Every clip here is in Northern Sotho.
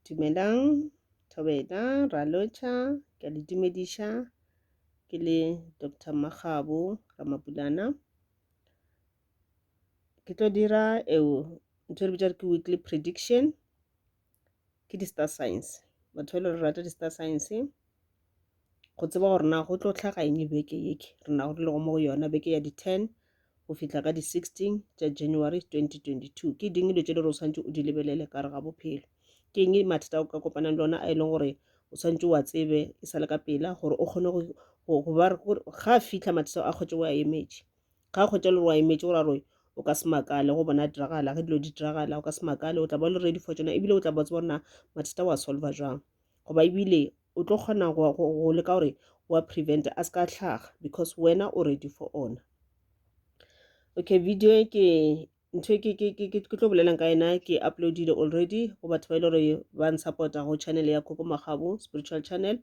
Dumelang, Thobela, Ralocha, ke a le dumediša. Ke le Doctor Makgabo Ramabulana. Ke tlo dira eo ntho e re bitša ke weekly prediction, ke di-star signs. Batho ba e le gore rata di-star signs. go tseba gore na go tlo tlhaga eng beke yeke re nago re lego mo go yona beke ya di-ten go fihla ka di-sixteen tša january 2022 ke ding dilo tše le gore o tshwanetse o di lebelele ka re ga bophelo ke eng mathata o ka kopanang le ona a e leng gore o tshwanetse wa tsebe e sa le ka pela gore o kgone go ba ga a fitlha mathata a kgwetse o a emetše ga a kgwetse le gore wa emetše gore aroe o ka se makale go bona diragala ge dilo di diragala o ka se makale o tla ba le ready for tsona ebile o tla ba tseba gore na mathata wa solva jwang goba ebile o tlo kgona go, go, go leka gore wa prevent a se ka tlhaga because wena o ready for ona okay video e ke ntho e ke, ke, ke, ke, ke tlo bolelang ka yena ke uploadile already go batho ba e le gore ba nsupporta go channel ya koko magabo spiritual channel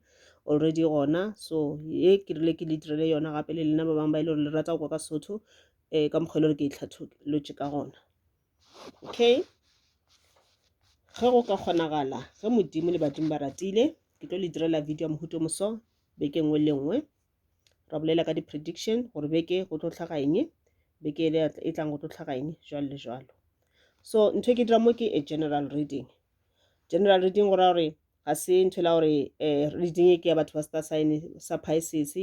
already gona so ye ke rile ke le direle yona gape le lena ba bangwe ba e le gore le rata go kwa ka sotho um eh, ka mokgwa e le gore ke e tlhatholotše ka gona okay ge go ka kgonagala ge modimo le badimo ba ratile ke tlo le direla video ya mohuto moso beke nngwe le nngwe ra bolela ka di-prediction gore beke go tlo tlhaga eng beke e tlang go tlo tlhaga eng jalo le jalo so ntho e ke dira mo ke a general reading general reading go raya gore ga se ntho la gore um reading e ke ya batho ba star sign sa pisces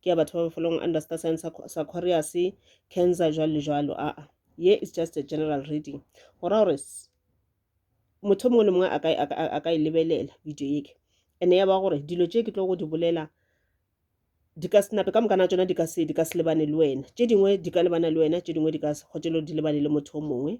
ke ya batho ba mafelong under star sign sa corius cancer jwalo le jwalo aa ye is just a general reading go ra gore motho mongwe le mongwe a ka e lebelela video eke ene ya ba gore dilo tše ke tlo go di bolela di ka senape ka mokana tsona di ka se di ka se lebane le wena tše dingwe di ka lebana le wena tše dingwe di ka se kgotelo di lebane le motho o mongwe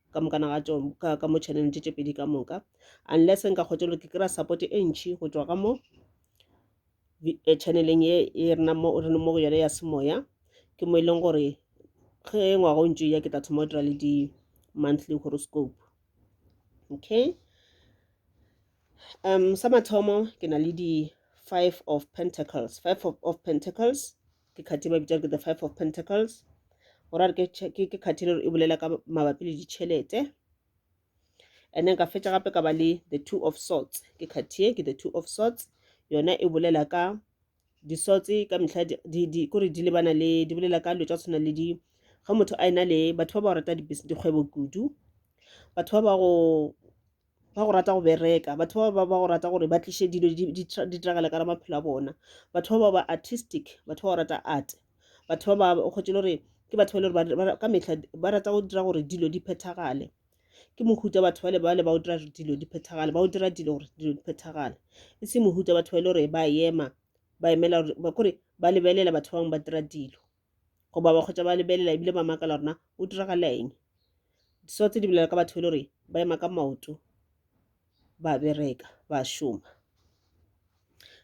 ka moka na ga tšo ka ka mo channel tše tše pedi ka moka unless nka kgotse lo ke kry-a support e ntšhi go tšwa ka mo vi- eh, channeleng ye e rena mo re leng mo go yone ya semoya ke mo e leng gore ge ngwaga o ntše o ya ke tla thoma go dira le di-monthly horoscope okay um sa mathomo ke na le di-five of pentacles five of, of pentacles ke khathi ba bitsa ke the five of pentacles gore a re ke khathi le e bolela ka mabapi le ditšhelete and then ka fetša gape ka ba le the two of sorts ke khathi e ke the two of sorts yona e bolela ka disotse ka metlha kore di lebana le di bolela ka dilo tsa tshwana le di ga motho a ena le batho ba ba rata dikgwebo kudu batho ba ba go ba go rata go bereka batho ba ba ba go rata gore ba tliše dilo di diragale ka ra maphelo a bona batho ba ba ba artistic batho ba go rata art batho ba ba kgotse le gore ke batho ba le gore ka metlha ba rata go dira gore dilo di phethagale ke mohuta batho ba le ba le ba o dira dilo di phethagale ba o dira dilo gore dilo di phethagale e se mohuta batho ba le gore ba ema ba emela gore kore ba lebelela batho ba bangwe ba dira dilo goba ba kgotsa ba lebelela ebile ba makala rona o diragala eng so tse di bolela ka batho e le gore ba ema ka maoto ba bereka ba šoma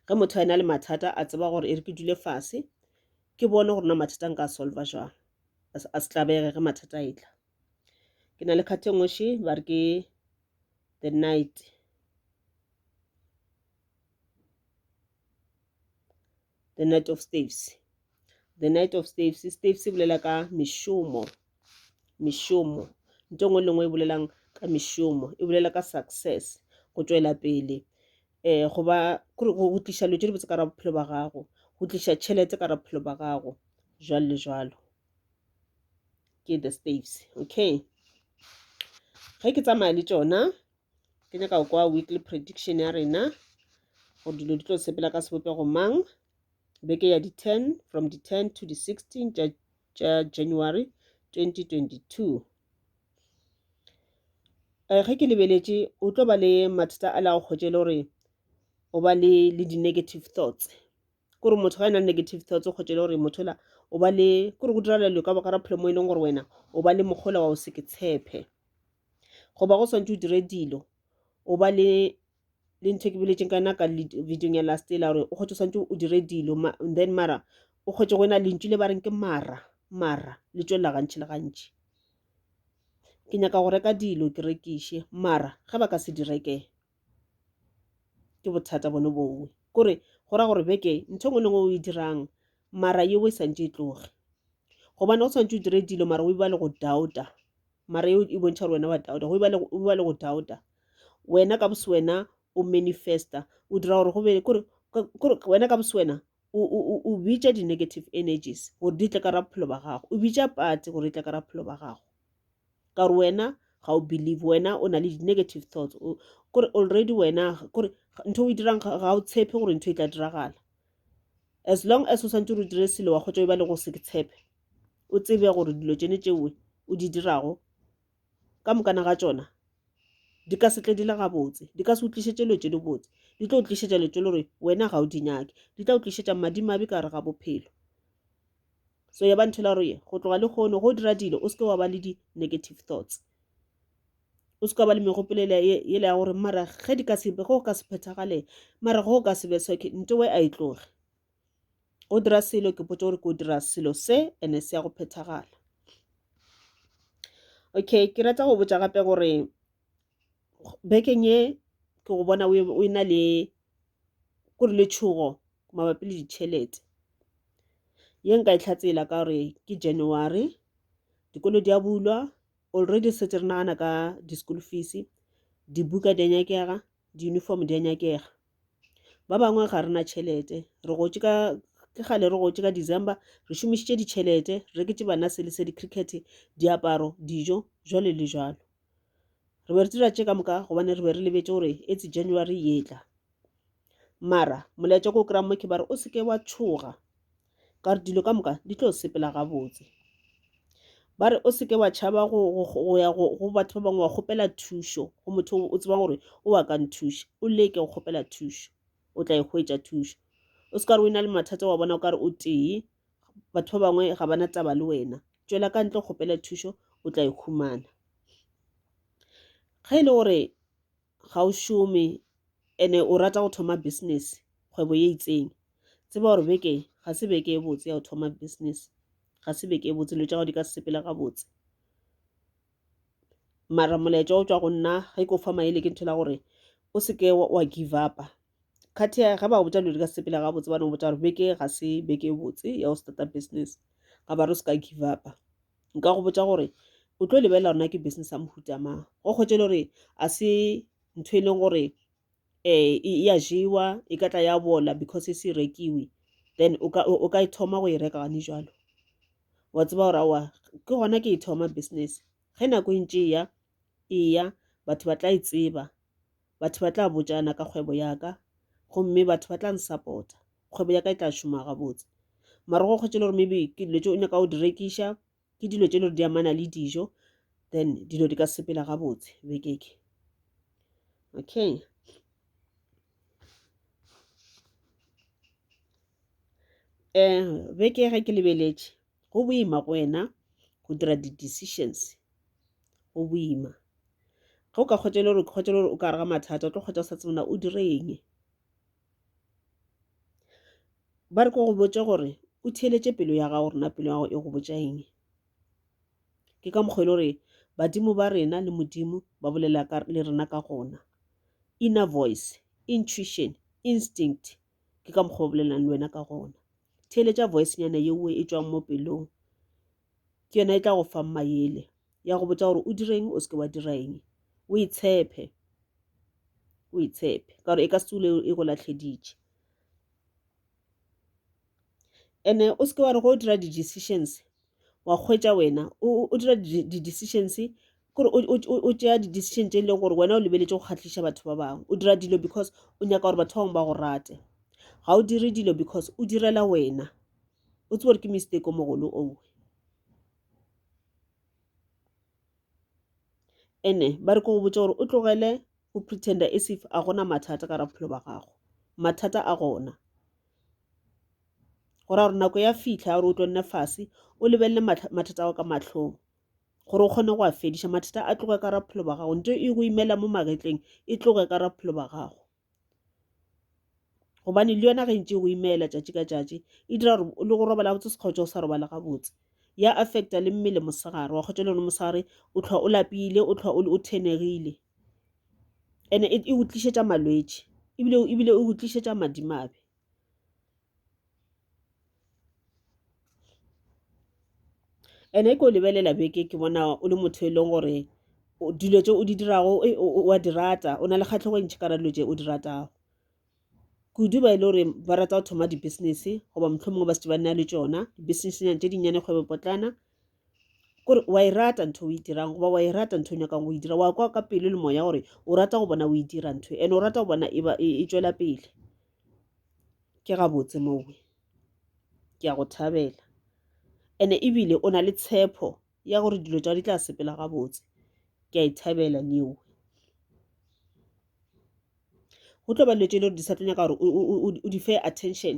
ge motho a ena le mathata a tseba gore e re ke dule fase ke bone gore na mathata nka solva jwang a se tlabege ge mathata a etla ke na le kgathe nngwe she ba re ke the night the night of staves the night of staves staves e bolela ka mešomo mešomo nto ngwe le ngwe e bolelang ka mešomo e bolela ka success go tšwela pele um go ba go tliša leo tše dibotse ka ra bophelo ba gago go tliša tšhelete ka ra bophelo ba gago jwalo le jwalo ke the staves okay ge ke tsamaya le tšona ke nyaka go kwa weekly prediction ya rena gore dilo di tlo sepela ka sebopego mang beke ya di-ten from di-ten to di-sixteen tša tša january 2022 um ge ke lebeletše o tlo ba le mathata a la go kgotše le gore o ba le le di-negative thoughts ke gore motho ga e na negative thoughts kgotsa e le gore motho la o ba le ke gore go diragala dilo ka baka ra pholo mo e leng gore wena o ba le mogola wa o se ke tshephe goba go swantse o dire dilo o ba le le ntho e ke boletseng ka yona ka videong ya last ela gore o kgotse o swantse o dire dilo then mara o kgotse go ena lentšu le ba reng ke mara mara le tswelela gantši le gantši ke nyaka go reka dilo ke rekiše mara ge ba ka se di rekee ke bothata bone bongwe kore go ra gore beke ntho engwe le ngwe o e dirang mara yeo e santse e tloge gobane go tshwanetse o dire dilo mara o e ba le go doubta mara eo e bontšha gore wena wa doubta go e ba le go doubta wena ka bose wena o manifesta o dira gore go be kore wena ka bose wena o bitša di-negative energies gore di tle ka ra bophelo ba gago o bitša pate gore e tle ka ra bophelo ba gago ka gore wena ga o believe wena o na le di-negative thoughts kore already wena kore ntho o e dirang ga o tshepe gore ntho e tla diragala as long as o santse o dire selo wa kgotsa o ba le go se ke tshepe o tsebe gore dilo tsene tšewe o di dirago ka mokana ga tsona di ka setle di le gabotse di ka se utlišetse lo tse di botse di tlo utlišetša lo tse le gore wena ga o di nyake di tla utlišetša madimabe ka gare ga bophelo so ya ba ntho la roye go tloga lekgono go dira dilo o seke wa ba le di-negative thoughts o seka ba le megopolo ele ya gore mara ge di ka sebe go ka se phethagale mara go ka sebe soke nto we a e tloge go dira selo ke potse gore ko dira selo se ene se ya go phethagala okay ke rata go botsa gape gore bekeng e ke go bona o e na le ko re le tšhogo mabapi le ditšhelete ye nka e tlhatsela ka gore ke january dikolo di a bulwa already setse re nagana ka di-school fees dibuka di a nyakega di-uniform di a nyakega ba bangwe ga rena tšhelete re gotse ka ke gale re gotse ka december re šomišitše ditšhelete re reketse bana sele se di-cricket diaparo dijo jwale le jwalo re be re dira tše ka moka gobane re be re lebetše gore etse january yetla mara molaetša ko o kry-a mo ke bare o seke wa tšhoga ka gore dilo ka moka di tlo sepela gabotse ba re o seke wa tšhaba go ya go batho ba bangwe wa kgopela thušo go motho o tsebang gore o wa ka nthuša o leke go kgopela thušo o tla e hwetša thušo o se ka re o na le mathata wa bona o ka re o tee Batho ba bangwe ga ba na taba le wena. Tšwela ka ntle o kgopele thušo, o tla e humana. Ge e le gore ga o šome ene o rata go thoma business, kgwebo ye itseng, tseba gore beke ga se beke e botse ya go thoma business, ga se beke e botse, dilo tša gago di ka se sepele gabotse. mara molaetša o tšwa go nna ge ke o fa maele ke ntho la gore o seke wa give upa kgathi ya ge ba botsa dilo di ka sepela ga botse ba no botsa gore beke ga se beke e botse ya go starta business ga ba re o seka give upa nka go botsa gore o tlo lebelela rona ke business ya mohuta mang go kgwetse le gore a se ntho e leng gore um e ya jewa e ka tla ya bola because e se rekiwe then o ka e thoma go e reka gane jalo wa tseba gore awa ke gona ke e thoma business ge nako e ntše eya eya batho ba tla e tseba batho ba tla botšana ka kgwebo yaka gomme batho ba tla nsupporta kgwebo yaka e tla šoma gabotse mara go kgwetše le gore maybe ke dilo tše o nyaka go di rekiša ke dilo tše le gore di amana le dijo then dilo di ka sepela gabotse bekeke okay um beke ge ke lebeletše go boima go wena go dira di decisions go boima ge o ka kgotsa e le gore kgotsa e le gore o ka gare ga mathata o tlo kgotsa o sa tsebe na o dire eng ba re ke go botše gore o theeletše pelo ya gago gore na pelo ya gago e go botša eng ke ka mokgwa e le gore badimo ba rena le modimo ba bolela le rena ka gona inner voice intuition instinct ke ka mokgwa o bolelelang le wena ka gona theeletša voicenyana yeo e tswang mo pelong ke yona e tla go fang mayele ya go botsa gore o direng o seke wa dira eng o e tshepe o e tshepe ka gore e ka se tsule e go latlheditše and-e o seke wa re ge o dira di-decisions wa kgwetša wena o dira di-decisions kore o tšea di-decision tše e lego gore wena o lebeletše go kgahliša batho ba bangwe o dira dilo because o nyaka gore batho ba bangwe ba go rate ga o dire dilo because o direla wena o tsebe gore ke mistake o mogolo owe ene ba re ko go botša gore o tlogele go pretender as if a gona mathata ka ra bophelo ba gago mathata a gona gore a gore nako ya fitlha ya gore o tlo nne fase o lebelele mathata a go ka matlhong gore o kgone go a fediša mathata a tloge ka ra bophelo ba gago nto e go imela mo magetleng e tloge ka ra bophelo ba gago gobane le yona ge ntse o imeela tšatši ka tšatši e dira gore le go robala botse sekgotša o sa robala gabotse ya affecta le mmele mosegare wa kgotša le yone mosegare o tlhwa o lapile o tlhwa o thenegile and-e e go tlišetša malwetši ebile e go tlišetša madimabe and e ke o lebelela beke ke bona o le motho e leng gore dilo tse o di dirago wa di rata o na le kgatlhego e ntšhi ka ra dilo tse o di ratago kudu ba e le gore ba rata go thoma di-business goba mohlomongwe ba setse ba nna le tsona di-businessnyana tse dinnyane kgwebo potlana kore wa e rata ntho o e dirang goba wa e rata ntho o nyakang go e dira wa kwa ka pelo le moya gore o rata go bona o e dira ntho and o rata go bona e, e, e tswela pele ke gabotse mowe ke ya go thabela ene ebile o na le tshepo ya gore dilo tsa di tla sepela gabotse ke a e thabela neo go tlo ba dilo tse e le gore di sa tlo nyaka gore o di fe attention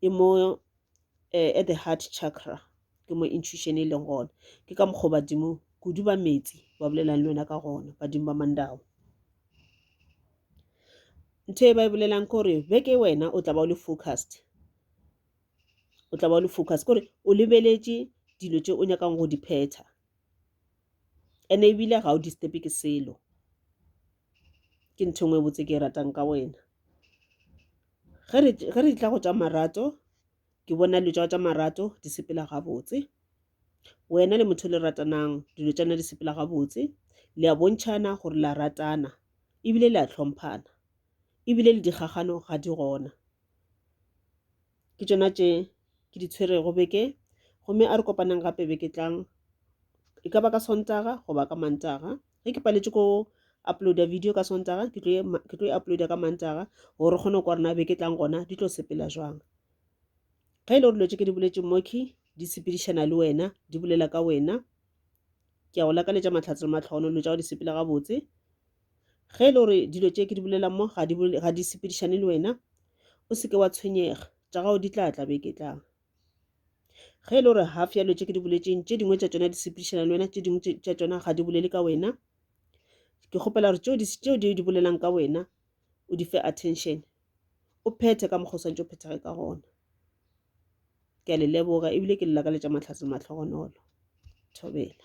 e mo uh, at the heart chakra ke mo intuition e leng gona ke ka mokgwa badimo kudu ba metsi ba bolelang le wena ka gona badimo ba mandao ntho e ba e bolelang ke gore beke wena o tla ba o le focused o tla ba o le focused kore o lebeletše dilo tše o nyakang go di phetha ene ebile ga o disturbe ke selo ke ntho e nngwe e botse ke e ratang ka wena ge re ge re tla go tša marato ke bona dilo tša tša marato di sepela gabotse wena le motho le ratanang dilo tša na di sepela gabotse le a bontšhana gore la ratana ebile le a tlhomphana ebile le dikgagano ga di gona ke tšona tše ke di tshwerego beke gomme a re kopanang gape beke tlang e ka ba ka sontaga goba ka mantaga ge ke paletše ko uploada video ka sontaga ke tlo e uploada ka mantaga gore re kgone go kwa rena be ke tlang gona di tlo sepela jwang ge e le gore dilo tse ke di boletse moki di sepedišana le wena di bolela ka wena ke ya go lakaletša matlhatse le matlhogono dilo tsa go di sepela gabotse ge e le gore dilo tse ke di bolela mo ga di sepedišane le wena o seke wa tshwenyega tša gago di tla tla be ke tlang ge e le gore half ya dilo tse ke di boletseng tše dingwe tša tsona di sepedišana le wena tše dingwe tša tsona ga di bolele ka wena ke kgopela gore tseo di di bolelang ka wena o di fe attention o phethe ka mokgwa o swantse o phethage ka gona ke a le leboga ebile ke le lakaletša matlhatse matlhogonolo thobela